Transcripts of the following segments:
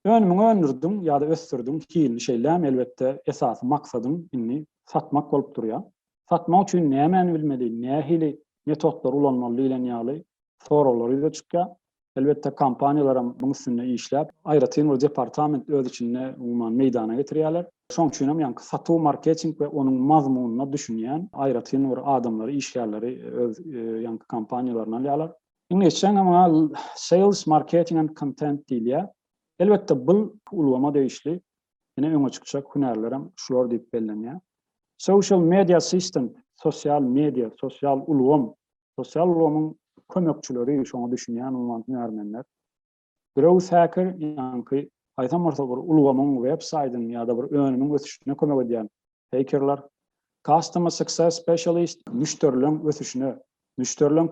Önümiňi öndürdiň ýa-da ösdürdiň, hilini şeýlämi, elbetde, esasy maksadyň indi satmak bolup durýar. Satmak üçin nämäni bilmeli, nähili metotlary ulanmaly diýlen ýaly soraglar ýüze çykýar. Elbetde, kompaniýalaram muň üstünde işläp, aýratyn bir departament öz içinde, umuman, meýdana getirýärler. Şoň üçin hem ýaňky satuw, marketing we onuň mazmunyna düşünýän aýratyn bir adamlary, işgärleri öz ýaňky kompaniýalaryna alýarlar. Iňlisçe muňa sales marketing and kontent diýilýär. Elbetde bul ulgama degişli ine öňe çykjak hünärlerem şular diýip bellenýär. Social media assistant, sosial media, sosial ulgam, sosial ulgamyň kömekçileri şoňa düşünýän uman hünärmenler. Growth Hacker, ýaňky haýsam bolsa bir ulgamyň, web saýdyň ýa-da bir önümiň ösüşine kömek edýän hekerler. Customer Success Specialist, müşderileň ösüşine, müşderileň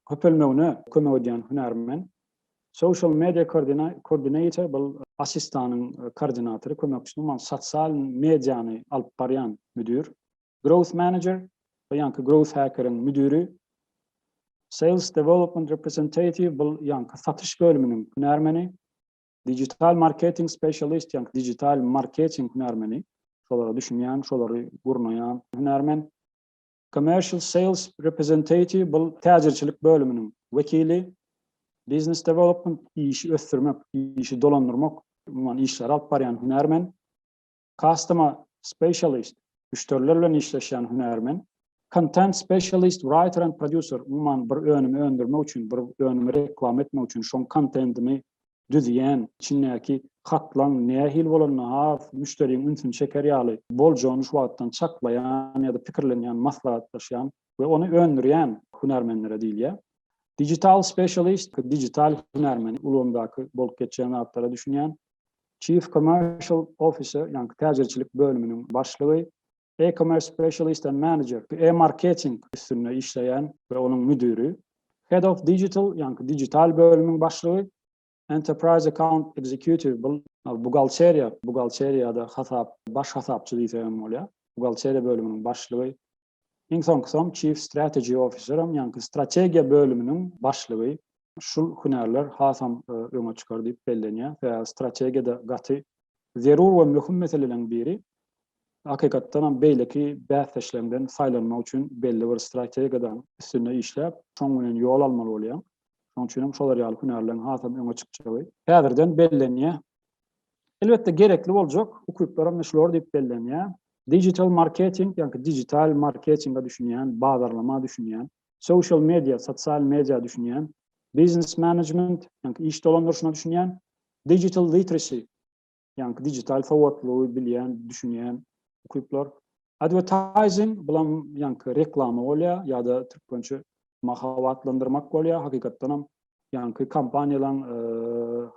köpelmegine kömek edýän hünärmen. Social Media Coordinator, bul assistanyň koordinatory, kömekçisi, umuman sosial mediany alyp barýan müdir. Growth Manager, bu ýaňky Growth Hacker-iň müdiri, Sales Development Representative, bul ýaňky satyş bölüminiň hünärmeni, Digital Marketing Specialist, ýaňky digital marketing hünärmeni, şolara düşünýän, şolary gurnaýan hünärmen, Commercial Sales Representative, bul täjirçilik bölüminiň wekili, Business Development, işi ösdürmek, işi dolandyrmak, umuman işleri alyp barýan hünärmen, Customer Specialist, müşderiler bilen işleşýän hünärmen, Content Specialist, Writer and Producer, umuman bir önümi öndürmek üçin, bir önümi reklama etmek üçin şoň kontentini düzýän, içindäki hatlaň nähili bolanyna has müşderiň ünsüni çeker ýaly boljany şu wagtdan çaklaýan ýa-da pikirlenýän, maslahatlaşýan we ony öndürýän hünärmenlere diýilýär. Digital Specialist, digital hünärmen, ulgamdaky bolup geçýän zatlara düşünýän, Chief Commercial Officer, ýagny täjirçilik bölüminiň başlygy, E-Commerce Specialist and Manager, e-marketing üstünde işleýän we onuň müdiri, Head of Digital, ýagny digital bölüminiň başlygy, Enterprise Account Executive, buhgalteriýa, buhgalteriýada hasap, baş hasapçy diýsegem bolýar, buhgalteriýa bölüminiň başlygy, Iň soňkusam Chief Strategy Officer-am, ýagny strategiýa bölüminiň başlygy. Şul hünärler hasam öňe çykar diýip bellenýär. Sebäbi strategiýada gaty zerur we möhüm meseleleriň biri. Hakykatdanam beýleki bäsdeşleňden saýlanmak üçin belli bir strategiýadan üstünde işläp, şoň bilen ýol almaly bolýaň. Şoň üçinem şolar ýaly hünärleriň hasam öňe çykjagy häzirden bellenýär. Elbetde gerekli boljak ukyplar hem şular diýip bellenýär. Digital marketing, ýa-da digital marketinge düşünýän, bazarlama düşünýän, social media, sosial media düşünýän, business management, ýa-da iş dolandyryşyna düşünýän, digital literacy, ýa-da digital sowatlygy bilýän, düşünýän ukyplar, Advertising bulam ýaňky reklama bolýar ýa-da türkmençe mahabatlandyrmak bolýar. Hakykatdan hem ýaňky kompaniýalaryň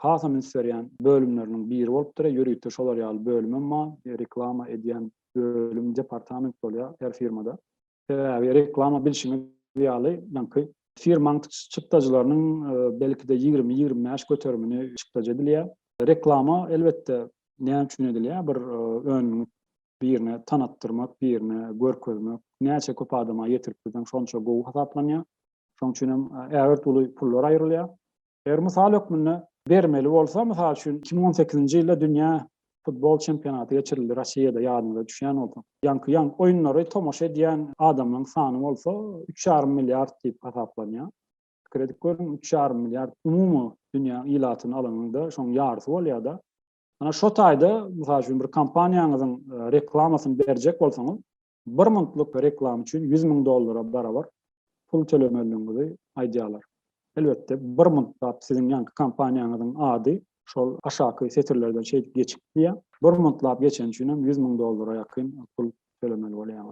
hasam üns berýän bölümleriniň biri bolupdyr. Ýörite şolar ýaly bölüm hem bar. Reklama edýän bölüm, departament bolýar her firmada. Sebäbi reklama bilşiňiz ýaly ýaňky firmaň çykdajylarynyň belki-de ýigrimi-ýigrimi bäş göterimini çykdajy edilýär. Reklama elbetde näme üçin edilýär? Bir önümiň birine tanatdyrmak, birine görkezmek, näçe köp adama ýetirip bilseň şonça gowy hasaplanýar. Şoň üçin hem ägirt uly pullar aýrylýar. Eger mysal hökmünde bermeli bolsa, mysal üçin, iki müň on sekizinji ýylda dünýä futbol çempionaty geçirildi Rossiýada, ýadyňyza düşýän bolsa. Ýaňky ýaňky oýunlary tomaşa edýän adamlaryň sany bolsa üç ýarym milliard diýip hasaplanýar. Pikir edip görüň, üç ýarym milliard umumy dünýä ilatyny alanyňda şoň ýarysy bolýar-da. Ana şo taýda, mysal üçin, bir kompaniýaňyzyň e, reklamasyny berjek bolsaňyz, bir minutlyk reklama üçin 100 müň dollara barabar pul tölemeligiňizi aýdýarlar. Elbetde, bir minutda siziň ýanky kompaniýaňyzyň ady şol aşaky setirlerden şeýdip geçip diýýär. Bir minutda geçen üçin hem 100 müň dollara ýakyn pul tölemeli bolýar.